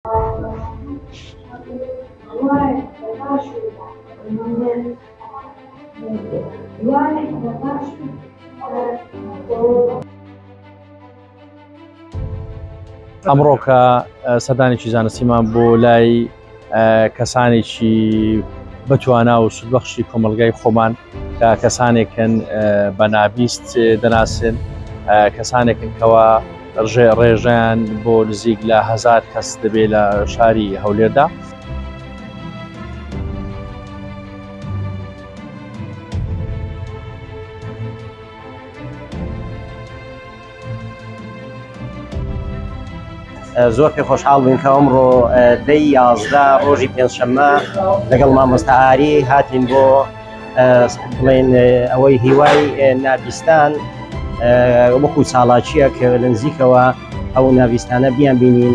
ئەمڕۆکە سەدانێکی زانستیمان بۆ لای کەسانێکی بەتوانا و سودبەخشی کۆمەلگای خۆمان کە کەسانێکن بە نابیست دەناسن کەسانێکن کەەوە ڕژێ ڕێژیان بۆ نزیک لە هزار کەس دەبێ لە شاری هەولێردا. زۆر پێ خۆشحاڵ بووین کە ئەمڕۆ دەی یازدە ڕۆژی پێنجشەممە لەگەڵ مامۆستا ئاری هاتین بۆ بڵێن ئەوەی هیوای نابیستان وەکو چاڵاچیە کە لە نزیکەوە ئەو ناویستانە بیان بینین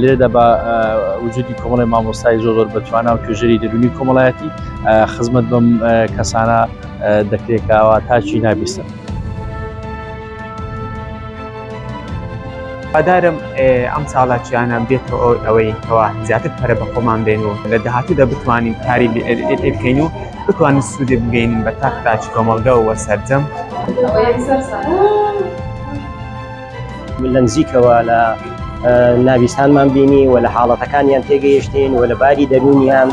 لێرەدا بە وجودی کۆمەڵی مامۆستای زۆر زۆر بەتوانە و توێژەری دەرونی کۆمەڵایەتی خزمەت بەم کەسانە دەکرێکەوە تاچی نابیستن. پادارم ئەم ساڵاچیانە بێتەوە ئەوەی کەوا زیاتر پەرە بە خۆمان بێن و لە داهاتوودا بتوانین کاری بکەین و بتوانین سوودێک بگەینین بە تاک تاکی کۆمەڵگە و سەرجەم. من لە نزیکەوە لە ناویستانمان بینی و لە حاڵەتەکانیان تێگەیشتین و لە باری دەروونیان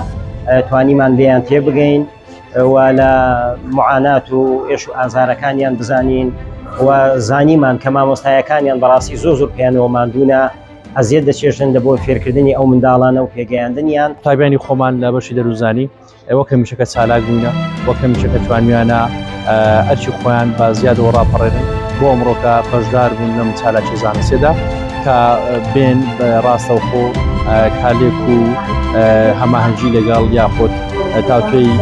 توانیمان لێیان تێبگەین و لە معانات و ئێش و ئازارەکانیان بزانین و زانیمان کە مامۆستایەکانیان بەڕاستی زۆ زۆر پێیانەوە مادوونە ئەزیێت دەچێژن دە بۆ فێرکردنی ئەو منداڵانە و پێگەیاندنیان تابیانی خۆمان لە بەشی دەروزانی وەک هەمیشەکە چالاک بووینە وەک هەمیشەکە توانیانە ئەرچی خۆیان بە زیادەوە ڕاپەڕێنن بۆ ئەمڕۆکە بەشدار بوون لەم چالاکی زانستێدا کە بێن ڕاستەوخۆ کالێک و هەماهەنگی لەگەڵ یاخود تاوتوێی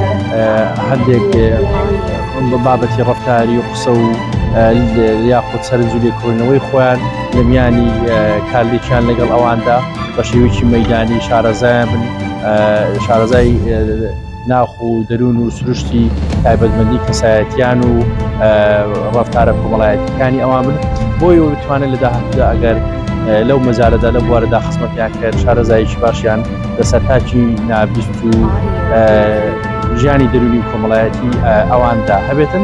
هەندێک بە بابەتی ڕفتاری و قسە و یاخود سەرنجلی کۆنەوەی خۆیان لە میانی کارلێکیان لەگەڵ ئەواندا بە شێوێکی مەدانی شارەزایان بن شارەزای ناخ و دەروون و سروشتی تایبەتمەندی کەسایەتیان و ڕفتارە کۆمەڵایەتەکانی ئەوان من بۆی و بتوانێت لە داهاتدا ئەگەر لەو مەزارەدا لە بوارەدا خزمەتیان کرد شارەزایکی باشیان لەسەر تاچی نابیست و ژیانی دەروونی کۆمەڵایەتی ئەواندا هەبێتن.